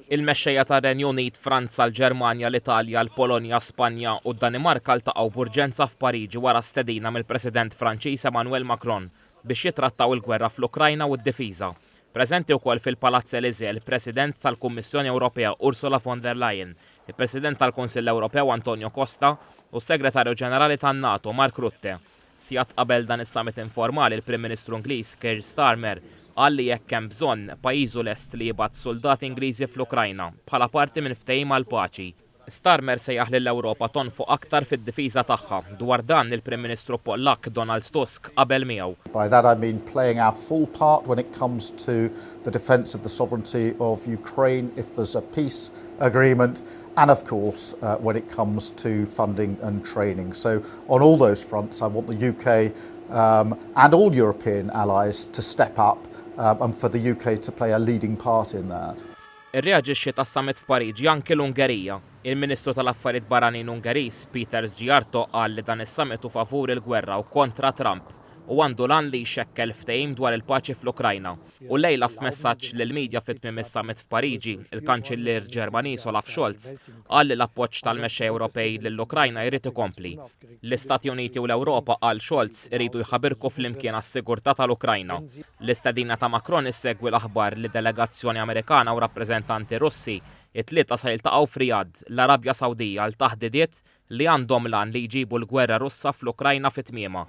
Il-mexxejja tar-Renju Unit, Franza, l-Ġermanja, l-Italja, l-Polonja, Spanja u d-Danimarka ltaqgħu b'urġenza f'Pariġi wara stedina mill-President Franċiż Emmanuel Macron biex jittrattaw il-gwerra fl-Ukrajna u d-difiża. Preżenti wkoll fil-Palazz Elysée l-President tal-Kummissjoni Ewropea Ursula von der Leyen, il-President tal-Kunsill Ewropew Antonio Costa u s-Segretarju Ġenerali tan-NATO Mark Rutte. Sigħat qabel dan is-summit informali l-Prim Ministru Ingliż Keir Starmer qal li jekk hemm bżonn, pajjiżu lest li jibgħat suldati Ingliżi fl-Ukrajna bħala parti minn ftehim għall-paċi. Starmer sejjaħ lill-Ewropa tonfoq aktar fid-difiża tagħha. Dwar dan, il-Prim Ministru Pollakk Donald Tusk qabel miegħu. By that I mean playing our full part when it comes to the defence of the sovereignty of Ukraine if there's a peace agreement. and of course, when it comes to funding and training. On all those fronts, I want the U.K. and all European allies to step up and for the U.K. to play a leading part in that. Irreaġixxiet għas-summit f'Pariġi anki l-Ungerija. Il-Ministru tal-Affarijiet Barranin Ungeriż, Péter Szijjártó qal li dan is-summit hu favur il-gwerra u kontra Trump u għandu l-għan li jxekkel ftehim dwar il-paċi fl-Ukrajna. U llejla f'messaġġ lill-media fi tmiem is-summit f'Pariġi, il-Kanċillier Ġermaniż Olaf Scholz qal li l-appoġġ tal-mexxej Ewropej lill-Ukrajna jrid ikompli. L-Istati Uniti u l-Ewropa, qal Scholz, iridu jħabirku flimkien għas-sigurtà tal-Ukrajna. L-istedina ta' Macron issegwi l-aħbar li delegazzjoni Amerikana u rappreżentanti Russi t-Tlieta se jiltaqgħu f'Riyadh, l-Arabja Sawdija għal taħdidiet li għandhom l-għan li jġibu l-gwerra Russa fl-Ukrajna fi tmiemha.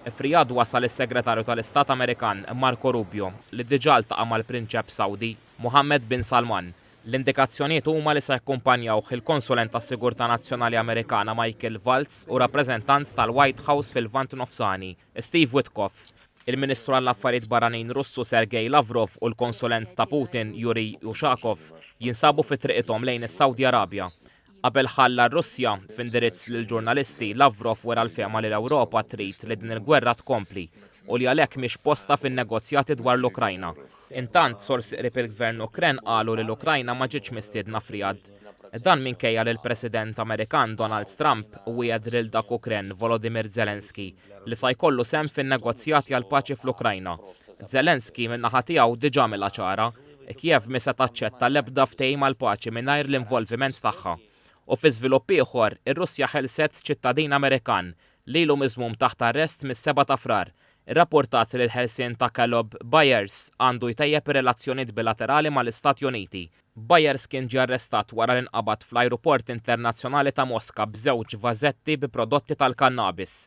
F'Riyadh wasal is-Segretarju tal-Istat Amerikan, Marco Rubio, li diġà ltaqa' mal-Prinċep Sawdi, Mohammed bin Salman. L-indikazzjonijiet huma li se jakkumpanjawh il-Konsulent tas-Sigurtà Nazzjonali Amerikana Michael Waltz u rappreżentant tal-White House fil-Lvant Nofsani, Steve Witkoff, il-Ministru għall-Affarijiet Barranin Russu Sergei Lavrov u l-Konsulent ta' Putin Yuriy Ushakov jinsabu fi triqithom lejn is-Sawdi Arabja. Qabel ħalla r-Russja, f'indirizz lill-ġurnalisti, Lavrov wera l-fehma li l-Ewropa trid li din il-gwerra tkompli u li għalhekk mhix postha fin-negozjati dwar l-Ukrajna. Intant, sorsi qrib il-Gvern Ukren qalu li l-Ukrajna ma ġietx mistiedna f'Riyadh. Dan minkejja li l-President Amerikan Donald Trump wiegħed lil dak Ukren Volodymyr Zelensky li sa jkollu sehem fin-negozjati għall-paċi fl-Ukrajna. Zelensky, min-naħa tiegħu, diġà għamilha ċara e Kiev mhi se taċċetta l-ebda ftehim għall-paċi mingħajr l-involviment tagħha. U fi żvilupp ieħor, ir-Russja ħelset ċittadin Amerikan li ilu miżmum taħt arrest mis-Seba' ta' Frar, irrappurtat li l-ħelsien ta' Caleb Byers għandu jtejjeb ir-relazzjonijiet bilaterali mal-Istati Uniti. Byers kien ġie arrestat wara li nqabad fl-Ajruport Internazzjonali ta' Moska b'żewġ vażetti bi prodotti tal-kannabis.